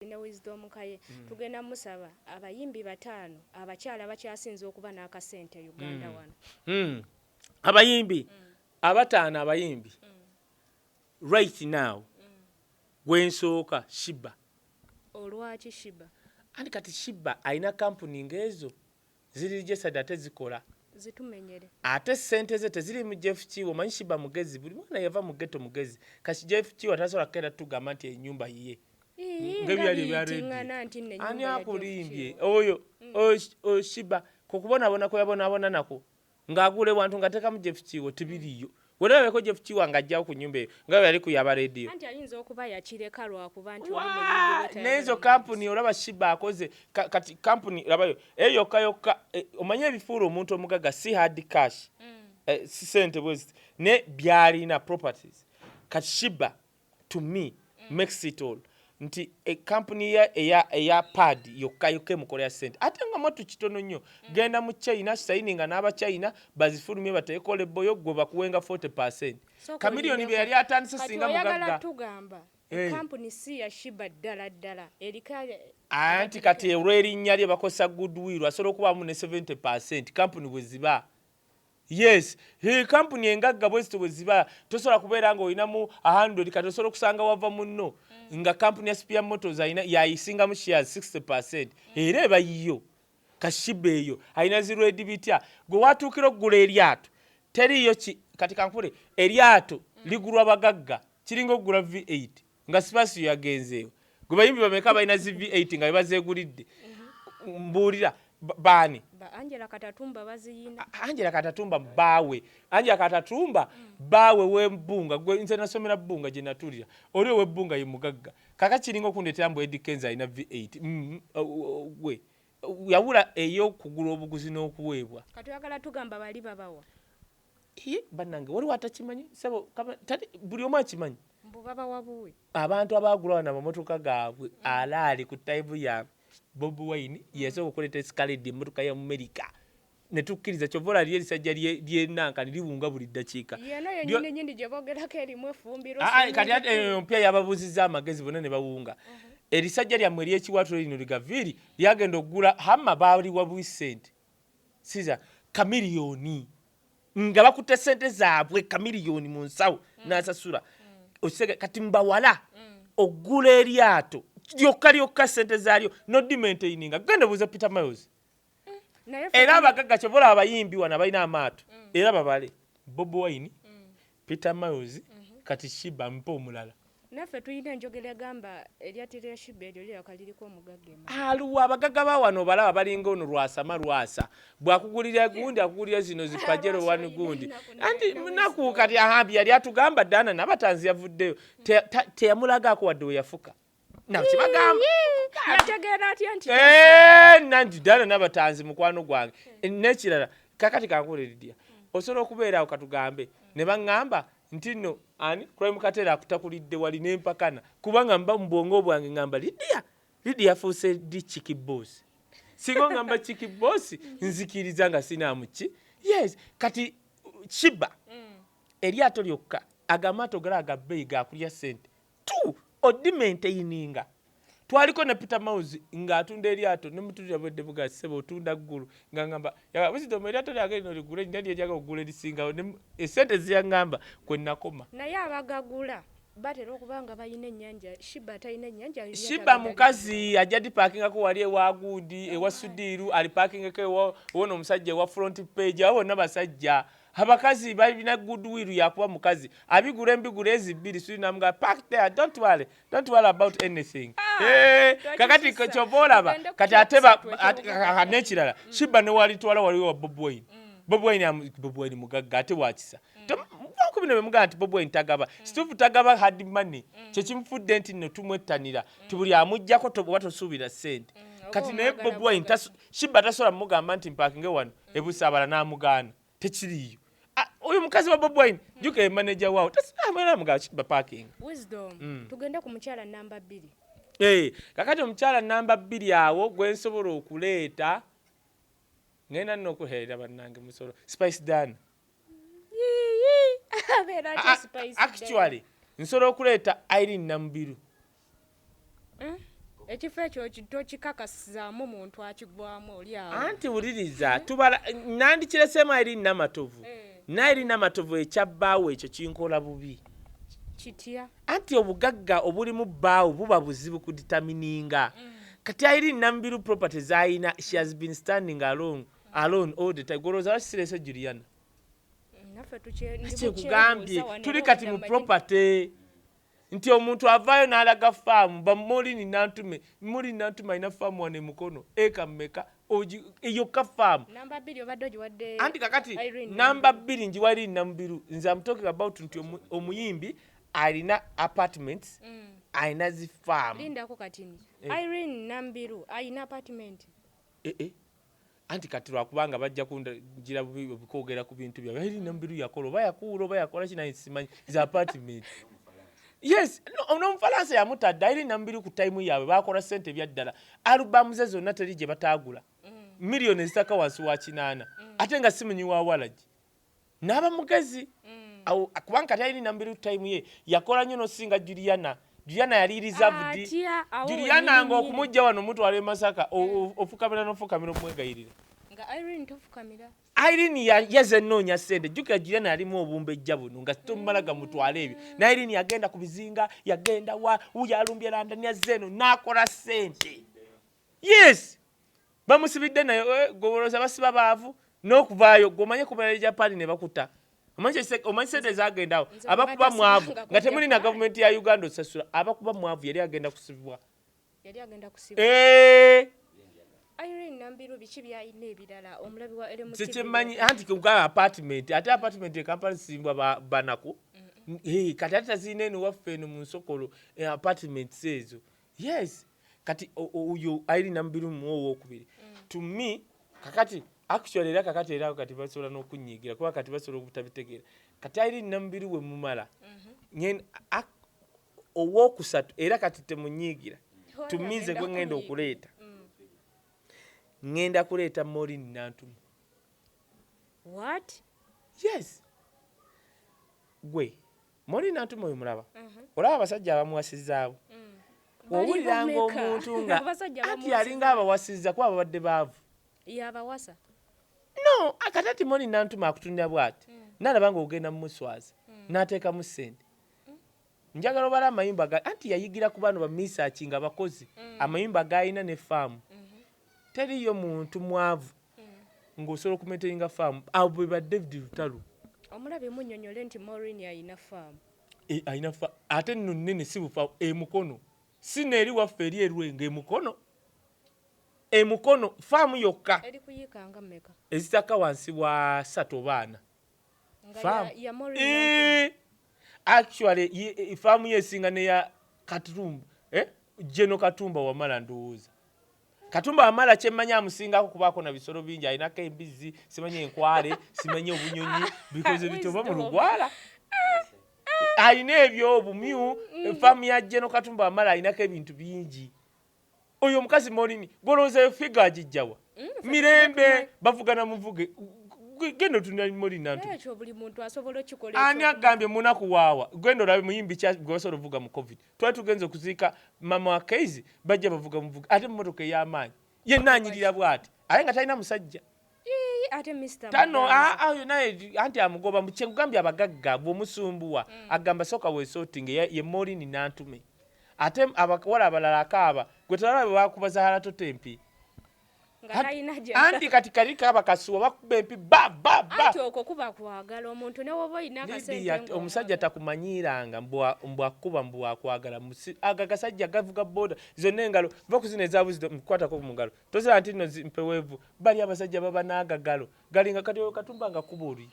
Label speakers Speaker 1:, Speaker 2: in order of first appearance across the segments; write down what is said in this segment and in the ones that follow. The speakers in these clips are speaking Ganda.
Speaker 1: ne Wisdom Kaye tugenda musaba abayimbi bataano abakyala abakyasinze okuba n'akasente e Uganda hmm. wano. Hmm. Abayimbi
Speaker 2: hmm. abataano abayimbi right now gwensooka Shiba. Olwaki
Speaker 1: Shiba? Ani kati Shiba
Speaker 2: alina kampuni ng'ezo Ziri registered ate zikola. Zitumenyere.
Speaker 1: Ate sente
Speaker 2: ze teziri mu Jeff Kiwa manyi shiba mugezi buli mwana yava mu ghetto mugezi kati Jeff Kiwa tasobola kenda tugamba nti enyumba yiye ngebyali
Speaker 1: ebya redi ani
Speaker 2: akulimbye oyo mm. oyo shiba kukubonabona kweyabonabona nako Nga agula ewantu nga tekamu Jeff Kiiwa tebiriyo. Wena weko Jeff Kiiwa nga ajjawo ku nyumba eyo nga weyali ku yaba radio. Anti ayinza okuba
Speaker 1: yakireka lwakuba nti oli munyiivu bwetayagala mumanyisa. Waa nezo
Speaker 2: kampuni olaba Shiba akoze kati kampuni labayo eyo yokka yokka omanyi ebifuula omuntu omugaga si hard cash si sente bweziti naye byalina properties kati Shiba to me mm. makes it all nti ekampuni eh, eya, eya pad yokka yokka emukolera sente ate nga mwattu kitono nnyo mm. genda mu china sayininga n'abachina bazifulumye bateekole ebboyo gwe bakuwenga 40 percent kamiliyoni bye yali atandise singa mugagga eh. kampuni
Speaker 1: si ya shiba ddala ddala eriko anti kati
Speaker 2: olw'erinnya lye bakozesa goodwill asobola okubaamu ne 70 percent kampuni bwe ziba Yes he company engagga bwezito bweziba tosobola kubeera nga olinamu 100 kati osobola okusanga wava munno mm. nga company ya spear motors alina yayisingamu shares 60 percent mm. era eba yiyo kashiba eyo alina ziredi bitya gwe watuukira okugula eryato teriyo ki kati kankule eryato mm. ligulwa bagagga kiringa okugula v8 nga sipasiyo yagenzeewo gwe bayimbi bameka balina zi v8 nga bebazegulidde mbuulira baani angela katatumba
Speaker 1: baziyina angela katatumba
Speaker 2: baawe angela katatumba baawe webbunga gwe nze nasomera bbunga gye natulira oli owebbunga ye mugagga kaka kiringa okundeetera mbu edi kenza alina v8 mm, gwe yawula ey'okugula obuguzi n'okuweebwa kati oyagala tugamba
Speaker 1: bali babawa Iye
Speaker 2: banange waliwo atakimanyi sebo tali buli omu akimanyi. Mbu baba wabuwe.
Speaker 1: Abantu abagula wana
Speaker 2: mamotoka gaabwe mm. alaali ku taibu ya Bob Wine mm. yasooka okuleeta esikaledi emmotoka ya Amerika ne tukkiriza kyova olali erisajja lyenankani liwunga buli ddakiika yeno yenyini nyini gye
Speaker 1: boogerako erimu efumbiro ah, ah, kati ate eh, empya
Speaker 2: yababuuzizza amagezi bona ne bawunga mm-hmm. erisajja lyammwe ery'ekiwaatule lino ligaviiri lyagenda okugula hamma baaliwa bwisente siza kamiliyoni nga bakutte sente zaabwe kamiliyoni mu nsawo mm. n'asasula mm. kati mbawala mm. ogula eryato lyokka lyokka sente zaalyo nodimaintaining nga genda buuza peter miles era abagagga kyobola abayimbi wano abalina amaato era babale bobi wine Peter Miles kati Shiba mpa omulala. Naffe tulina
Speaker 1: enjogera egamba eryati lya Shiba eryo liraka liriko omugagga emabega. Aluwa abagaga
Speaker 2: ba wano obalaba balinga ono lwasama lwasa bwakugulira gundi akugulira zino zi pajero wani gundi anti munaku kati ahambi yali atugamba dana nabatanzi yavuddeyo teyamulagaako wadde weyafuka. nanti dala nabatanzi mukwano gwange eh, nekirala kakati kankuleridya osobola okubeerawo katugambe ne baŋŋamba nti no ani crime katera akutakulidde wali nempakana kubanga mba mubwongo bwange ngamba lidia lidia afuuse di chiki boss singa ongamba chiki boss nzikiriza nga sinamuki yes kati shiba mm. eryato lyokka agamaato gali agabeeyi gakulya sente Tu oddi maintayininga. Twaliko ne Peter Mouse nga atunda elyato ne mutunulira bwedde buga ssebo otunda ggulu nga ngamba yagamba wisdom elyato lyange lino ligule nina lyenjaga okugula elisingawo ne esente zeyangamba kwe nakoma. Naye abagagula
Speaker 1: batera okuba nga balina enyanja shiba atalina enyanja alina Shiba mukazi
Speaker 2: ajja dipakingako wali ewa gundi ewa sudiru alipakingeko ewa wono omusajja ewa front page abo bonna basajja. Abakazi balina good will yakuba mukazi abigura embigura ezi bbiri suli namuga park there don't worry don't worry about anything ah, eh, kakati kyova olaba kati ate nekirala mm. shiba newalitwala waliwo wa bob wine mm. bob wine bob wine mugagga ate wakisa mm. ku bino bemugamba nti bobi wine tagaba mm. situfu tagaba hard money mm. kyekimufudde nti no tumwettanira mm. tibuli amujjako oba tosuubira sente kati naye bobi wine Shiba tasobola mugamba nti mpakinge wano e Busaabala n'amugaana tekiriiyo ah, oyo mukazi wa Bobi Wine jjuka ye manager waawo tasobola Shiba parking wisdom mm.
Speaker 1: tugende ku mukyala namba bbiri hey, eh,
Speaker 2: kakati omukyala namba bbiri awo gwe nsobola okuleeta ngenda nno okuheerera bannange musolo Spice Dana actually nsobola okuleeta irene namubiru hmm?
Speaker 1: ekifo ekyo tokikakasizaamu muntu akigwamu olyawo anti wuliriza hmm?
Speaker 2: tubala nandikireseemu irene namatovu eh. naye lina matovu ekya bbaawo ekyo kinkola bubi kitya
Speaker 1: anti obugagga
Speaker 2: obulimu bbaawo buba buzibu kuditamininga mm. kati ayiri namubiru property zayina she has been standing along mm. alone all the time goloza bakisirese juliana
Speaker 1: kyekugambye
Speaker 2: tuli kati mu property nti omuntu avaayo n'alaga faamu bamulini nantume muli nantuma alina faamu wano emukono eka mumeka eyokka faamu
Speaker 1: anti kakati
Speaker 2: namba bbiri njiwaliri namubiru nze amutoking about nti omuyimbi alina apartments mm. alina zifaamu
Speaker 1: eh. eh, eh.
Speaker 2: anti kati lwakubanga bajja kundagira bubi okwogera ku bintu byabwe eri nomubiru yakola oba yakuula oba yakola kinaye simanyi is apartment yes nomufalansa no, yamutadde eri namubiru ku tayimu yaabwe bakola sente ebyaddala alubamu ze zonna teri gye bataagula mm. miliyoni ezitaka wansi wa kinaana mm. ate nga simunyi wa walagi Naba mugezi awo kubanga kati alina nambiru time ye yakola nyo nosinga Juliana. Juliana yali reserved. Ah, Juliana nga okumujja wano mutwala e Masaka mm. ofukamira nofukamira omwegayirira. Nga
Speaker 1: Irene tofukamira. Irene ya
Speaker 2: yaze nonya sende jukira Juliana yalimu obumbejja buno nga sitomala mm. gamutwala ebyo. Na Irene yagenda kubizinga yagenda wa uyalumbye landa nyaze no nakola sente. Yes bamusibidde naye eh, goboloza basiba baavu n'okuvaayo gwe omanye kumala eja paani ne bakuta omanyi sente ezagendawo abakuba mwavu nga temuli na gavumenti ya uganda osasula abakuba mwavu yali agenda kusibwa
Speaker 1: eh! kyekimanyi anti kugaba
Speaker 2: apartment ate apartment ekampala zisimbwa banaku kati ate tazirina eno waffe eno mu nsokolo eh, apartments ezo yes kati uyu aili nambiru mu owokubiri mm. to me kakati actually era kakati era kati basobola nokunyigira kuba kati basobola obutabitegera kati aili nambiru we mumala mm -hmm. nyen owokusatu era kati temunyigira to me nze gwe ngenda okuleeta mm. ngenda kuleeta morin nantumu what
Speaker 1: yes
Speaker 2: gwe Moli Nantume oyo mulaba olaba abasajja abamuwasizaabo mm. owuliranga omuntu nga anti yalinga abawasiza kuba babadde baavu yabawasa
Speaker 1: no
Speaker 2: akati ati Moli Nantume akutunira bwati mm. nalaba nga ogenda mumuswaza mm. nateekamu sente njagala obala amayumba anti yayigira ku baano bamisaaki nga bakozi amayumba gaalina ne faamu Teriyo muntu mwavu nga osobola oku maintainga farm. Abo be ba David Lutalo. Omulabe munyonyole
Speaker 1: nti Maureen ayina farm. E, ayina farm
Speaker 2: ate nno nnene si bufa e Mukono. Si neeri waffe eri erwenga e Mukono. E Mukono farm yokka. Eri kuyiika nga meka.
Speaker 1: Ezitaka wansi wa
Speaker 2: satu oba ana. faamu eh, actually eh, faamu yesinga neya katumba eh? jeno katumba wamala ndowooza katumba wamala kyemmanyi amusingako kubaako na bisolo bingi alinako embizzi simanyi enkwale simanyi obunyonyi bikoze bitoba mu lugwala alina ebyo obumyu mm. faamu ya jeno katumba wamala alinako ebintu bingi Oyo omukazi Morini golowooza yo figa agijjawa? Mm, Mirembe bavugana muvuge genda otunira Morini nantu. Ekyo buli muntu asobola
Speaker 1: okikola. Ani agambye munaku
Speaker 2: waawa? Genda olabe muyimbi kya gwe wasobola ovuga mu covid. Twali tugenze okuziika mama wa Keizi bajja bavuga muvuge ate mmotoka ey'amaanyi. Yenna anyirira bwati aye nga talina musajja. ate
Speaker 1: Mr. Tano ah, ah,
Speaker 2: naye anti amugoba mkyekugambye abagagga bwomusumbuwa mm. agamba soka wesotinge ye, ye molini nantume ate abawala abalala akaaba gwe tolaba bebakuba zahara tote empi anti kati kali kaba kasuwa bakuba empi
Speaker 1: omusajja takumanyiranga
Speaker 2: mbwakuba mbwakwagala aga gasajja gavuga boda zonna engalo va kuzina ezabuzido mukukwatako mungalo Tozira nti no mpewevu bali abasajja baba nagagalo galinga kati katumba nga kubuli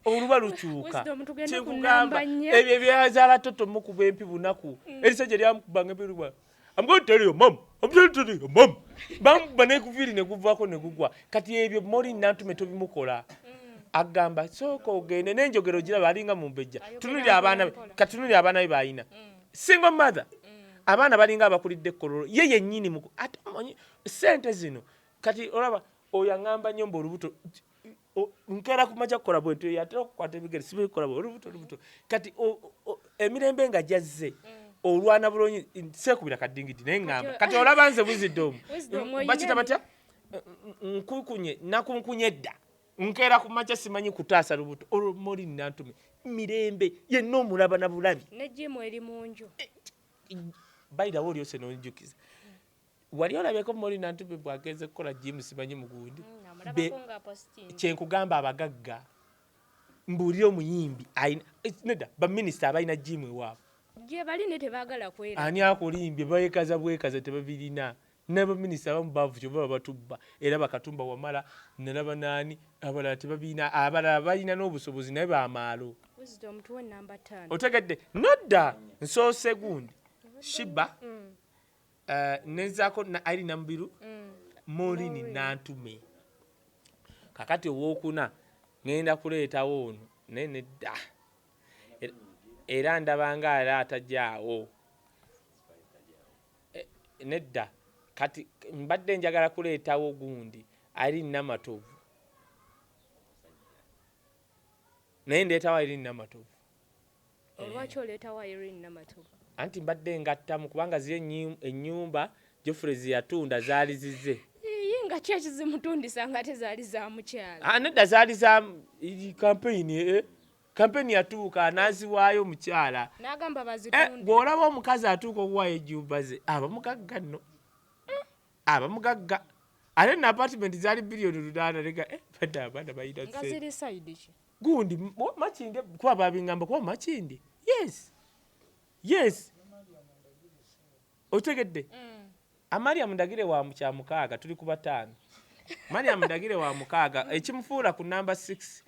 Speaker 2: oluba lukyuka kyekugamba ebyo ebyazala toto mukuba empi bunaku mm. erisajja lyamukubanga empi luba I'm going to tell your mom. I'm going to tell your mom. Bam bane kuviri ne kuvako ne gugwa. Kati ebyo mori nantu metobi mukola. Mm. Agamba soko ogende nenjogero jira balinga mumbejja. Tunuli abana be. Katunuli abana be bayina. Mm. single mother abaana balinga abakulidde kololo ye yenyini mu ate omanyi sente zino kati olaba oyo aŋamba nnyo mbu olubuto nkeera kumaja kukola bwentyo yatera okukwata ebigere sibikola olubuto olubuto kati emirembe nga gyazze mm. olwana bulungi seekubira kadingidi naye ŋamba kati olaba nze buzidde omu bakita batya nkukunye nakunkunye edda nkeera ku makya simanyi kutaasa lubuto olwo moli nantume mirembe yenna omulaba na bulabi nejimu eri mu
Speaker 1: nju eh,
Speaker 2: bayirawo olyose nonjukiza wali olabyeko moli nantume bwagenze kukola jimu simanyi mugundi mm, kyenkugamba abagagga mbuulira omuyimbi eh, neda baminisita abalina jimu ewaabwe gyebali ne
Speaker 1: tebagala kwera ani akulimbye
Speaker 2: bekaza bwekaza tebabirina Naba minister abamu bavu kyova babatubba era ba katumba wamala nalaba nani abalala tebabiina abalala balina nobusobozi naye bamaalo. Wisdom tuwe number taano. Otegedde nodda nsoose gundi shiba eh, nenzako na Irene Namubiru Maureen Nantume kakati owokuna ngenda kuleetawo ono naye nedda Er- era ndabanga era atajaawo Eh, nedda kati mbadde njagala kuleetawo gundi ali namatovu naye ndeetawo irene namatovu eh.
Speaker 1: olwaki oleetawo irene namatovu anti mbadde
Speaker 2: ngattamu kubanga ziri ennyumba jofre zeyatunda zaali zize nga ki
Speaker 1: ekizimutundisa nga ate zaali za mukyala ah, nedda zaali za
Speaker 2: kampeyini eh? Kampeni yatuuka n'aziwaayo omukyala. N'agamba eh, bazitunde.
Speaker 1: Bw'olaba omukazi
Speaker 2: atuuka okuwaayo ejjumba ze aba mugagga nno. Eh, aba mugagga. Ate na apatimenti zaali biliyoni ludaana leka eh, badde abaana balina nga ziri sayidi ki?
Speaker 1: Gundi
Speaker 2: makinde kuba babingamba kuba makinde. Yes. Yes. Otegedde? Mm. Amaliyamu ndagire wa mu kya mukaaga tuli ku bataano. Mariam Ndagire wa mukaaga ekimufuula ku namba 6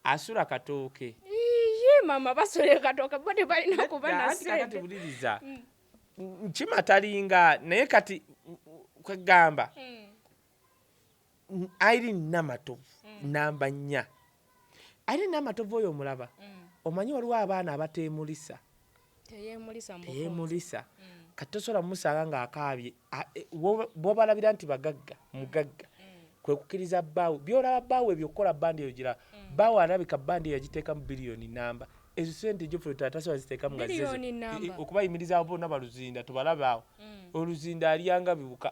Speaker 2: asula katooke iye mama
Speaker 1: basule katooke bo tebalina kuba nasente buliriza mm.
Speaker 2: nkima talinga naye kati kwegamba mm. airi namatovu mm. namba nnya airi namatovu oyo omulaba mm. omanyi waliwo abaana abatemulisa teyemulisa mm. kati tosobola mumusanga nga akaabye e, bwobalabira nti bagagga mm. mugagga mm. kwekukiriza bbaawe byolaba bbaawe ebyo okukola bandi eyo gira bbaawe alabika bandi yagiteekamu biliyoni namba ezo sente joffe tatasobola ziteekamu nga okubayimirizaawo bona baluzinda tubalabaawo oluzinda alyanga bibuka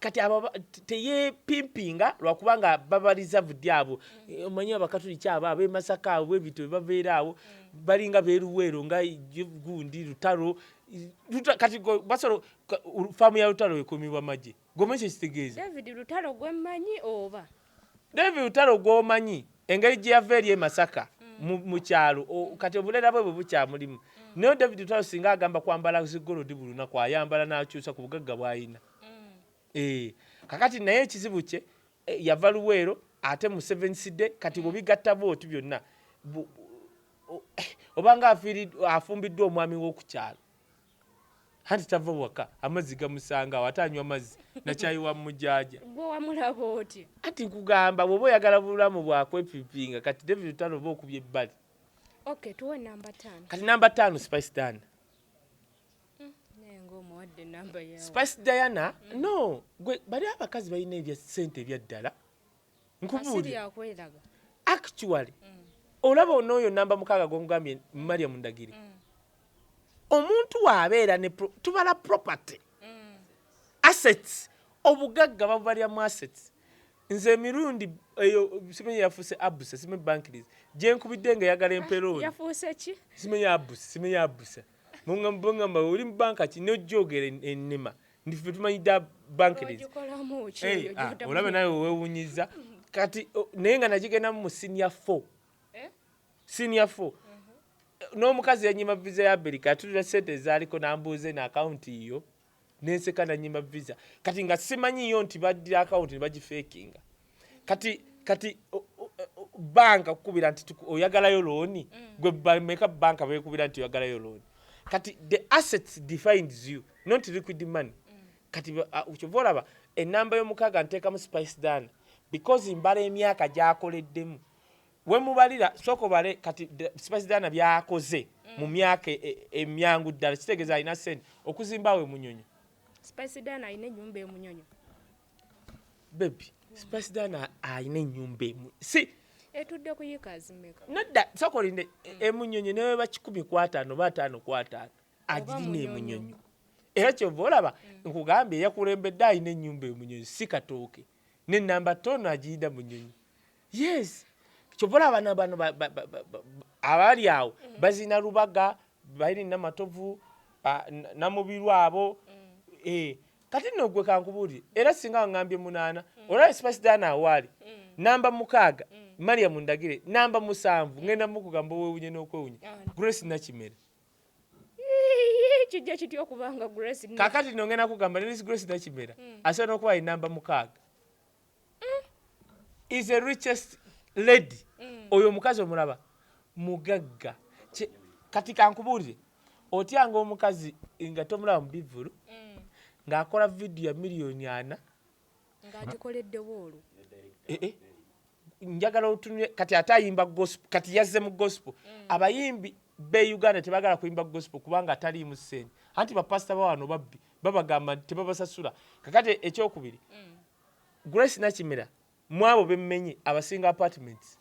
Speaker 2: kati abo teyepimpinga lwakuba nga baba reserved abo mm. omanyi abakatuliki abo abemasaka abo bwebityo bebabeera awo mm. balinga beruweero nga gundi lutalo kati basolo faamu ya lutalo ekumibwa magye gomekyo kitegeeza david lutalo
Speaker 1: gwemmanyi oba David Lutalo
Speaker 2: gwomanyi engeri gyeyava eri e Masaka mu kyalo kati obulera bwe bwebukyamulimu naye David Lutalo singa agamba kwambala zigolodi buli lunaku ayambala nakyusa ku bugagga bwalina ee kakati naye ekizibu kye e, yava Luweero ate mu Seven City kati bwobigatta bwoti byonna obanga afumbiddwa omwami wokukyalo Anti tava waka amazzi gamusanga awo ate anywa mazzi na kyayi wa mujaja. Gwe wamulaba
Speaker 1: otya? Anti nkugamba
Speaker 2: bwoba oyagala bulamu bwa kwepipinga kati David Lutalo oba okubye ebbali. Okay, tuwe
Speaker 1: namba tano. Kati namba tano Spice
Speaker 2: Diana. Mm, nengo omuwadde namba yawe. Spice Diana, mm. no, gwe bali abakazi balina ebya sente ebyaddala. nkubuulira actually mm. olaba onooyo namba mukaaga gwongambye maria mundagiri mm. omuntu waabeera ne tubala property mm. assets obugagga babubalira mu assets nze emirundi eyo simenye yafuuse abuse simenye bankiris gyenkubidde nga eyagala emperooni
Speaker 1: simenye abuse simenye
Speaker 2: abuse Bangamba oli banka ki nojogera enema ndife tumanyi da bank it is. Hey, ah, olaba nawe wewunyiza kati naye nga nagigenda mu senior 4. Eh? Senior 4. Mhm. N'omukazi yanyima visa ya Amerika atulira sente ezaaliko n'ambuuza eno akawunti yo nenseka nanyima visa kati nga simanyiyo nti badira akawunti nebagifekinga kati kati banka kukubira nti oyagalayo looni mm. gwe bameka banka bekubira nti oyagalayo looni kati the assets defines you not liquid money mm. kati kyova olaba enamba yomukaaga nteekamu spice dana because mbala emyaka gyakoleddemu Wemubalira sooka obale kati Sipasidaana byakoze mu myaka e, e, emyangu ddala kitegeeza alina sente okuzimba awo emunyonyo. Sipasidaana
Speaker 1: alina ennyumba emunyonyo.
Speaker 2: Bebi, Sipasidaana alina ennyumba emu si etudde ku yiika
Speaker 1: zimeka? Nedda sooka olinde
Speaker 2: e, emunyonyo ne bweba kikumi ku ataano oba ataano ku ataano agirina emunyonyo era kyova olaba mm. nkugambye yakulembedde alina ennyumba emunyonyo si katooke ne namba toono agiyida munyonyo yes kyova olaba bano bano ba- ba- ba- ba- ba- abali awo bazina lubaga bayiri namatovu ah, n- namubiru abo Eh, kati nno gwe kankubuulire era singa wangambye munaana olaba sipasidaana awaali namba mukaaga mariam ndagire namba musanvu ngenda mukugamba owewunye n'okwewunya grace nakimera Ii,
Speaker 1: kijja kitya okubanga grace ne- kakati nno ngenda kugamba
Speaker 2: nelis grace nakimera asobola n'okuba ye namba mukaaga is a richest lady mm. oyo omukazi omulaba mugagga kati kankubuulire otyanga omukazi nga tomulaba mu bivvulu mm. ng'akola vidiyo ya miliyoni ana ng'agikoleddewo
Speaker 1: olwo eh, eh.
Speaker 2: njagala otunule kati ate ayimba gospel kati yazze mu gospel mm. abayimbi be uganda tebagala kuyimba gospel kubanga ataliimu ssente anti bapasita bawano babbi babagamba nti tebabasasula kakati ekyokubiri Grace Nakimera mwabo bemmenye abasinga apartments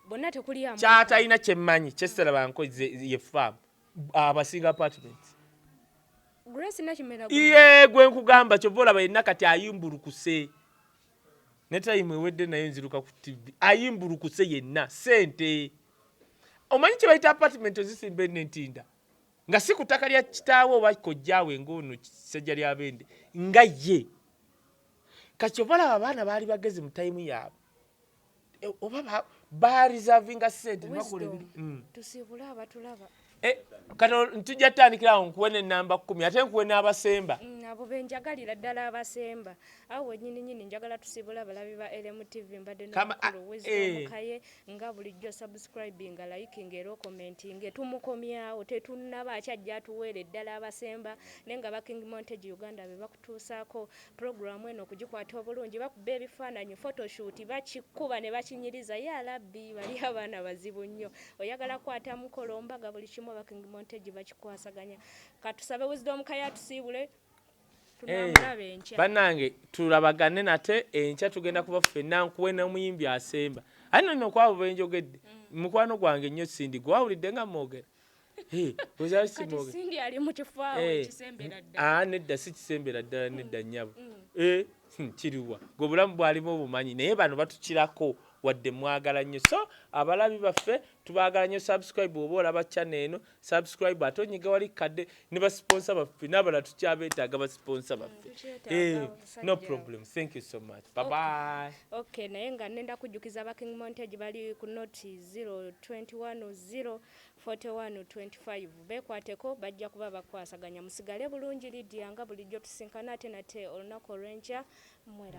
Speaker 1: bonna tekuli amu kyatalina kyemmanyi
Speaker 2: kyesitala banko ye farm abasinga apartments
Speaker 1: Grace Nakimera iye gwe nkugamba
Speaker 2: kyova olaba yenna kati ayimbulukuse ne time ewedde nayo nziruka ku TV ayimbulukuse yenna sente omanyi kye bayita apartment ozisimba eno entinda Nga si ku ttaka lya kitaawe oba kojjaawe ng'ono Ssajjalyabende nga ye. Kati kyova olaba abaana baali bagezi mu tayimu yaabwe. E, oba barizavinga sente nebakola ebintu mm. tusiibule
Speaker 1: abatulaba eh, kati
Speaker 2: ntujja tutandikira awo nkuwe nenamba kumi ate nkuwe n'abasemba mm, abo benjagalira
Speaker 1: ddala abasemba awo wenyini nyini njagala tusiibule abalabi ba lmtv mbadde nomukaye ah, eh. Nga bulijjo subscribinga, likinga era okomentinge. Tumukomyawo tetunnaba akya ajja atuweere eddala abasemba naye nga aba King Montage Uganda be bakutuusaako pulogulaamu eno okugikwata obulungi bakuba ebifaananyi photoshoot bakikuba ne bakinyiriza yaa labbi bali abaana bazibu nnyo oyagala kukwata mukolo mbaga buli kimu aba King Montage bakikwasaganya katusabe Wisdom Kaye atusiibule Eh,
Speaker 2: banange tulabagane nate enkya tugenda kuba ffenna nkuwe nomuyimbi asemba aye nono kwabo benjogedde mm. mukwano gwange nnyo sindi gwawulidde nga mwogera eh, eh,
Speaker 1: ah, nedda si kisembera
Speaker 2: ddala mm. nedda nnyabo mm. hmm, kiriwa gwe obulamu bwalimu obumanyi naye bano batukirako wadde mwagala nnyo so abalabi baffe tubagala nnyo subscribe oba olaba channel eno subscribe ate onyiga wali kadde ne ba sponsor baffe nabala tukyabetaaga ba sponsor baffe mm, eh, no problem thank you so much bye bye okay naye nga
Speaker 1: nenda kujjukiza ba king montage bali ku note 021 04125 bekwateko bajja kuba bakwasaganya musigale bulungi lidia nga bulijjo tusinkana ate nate olunaku olwenkya mwerabe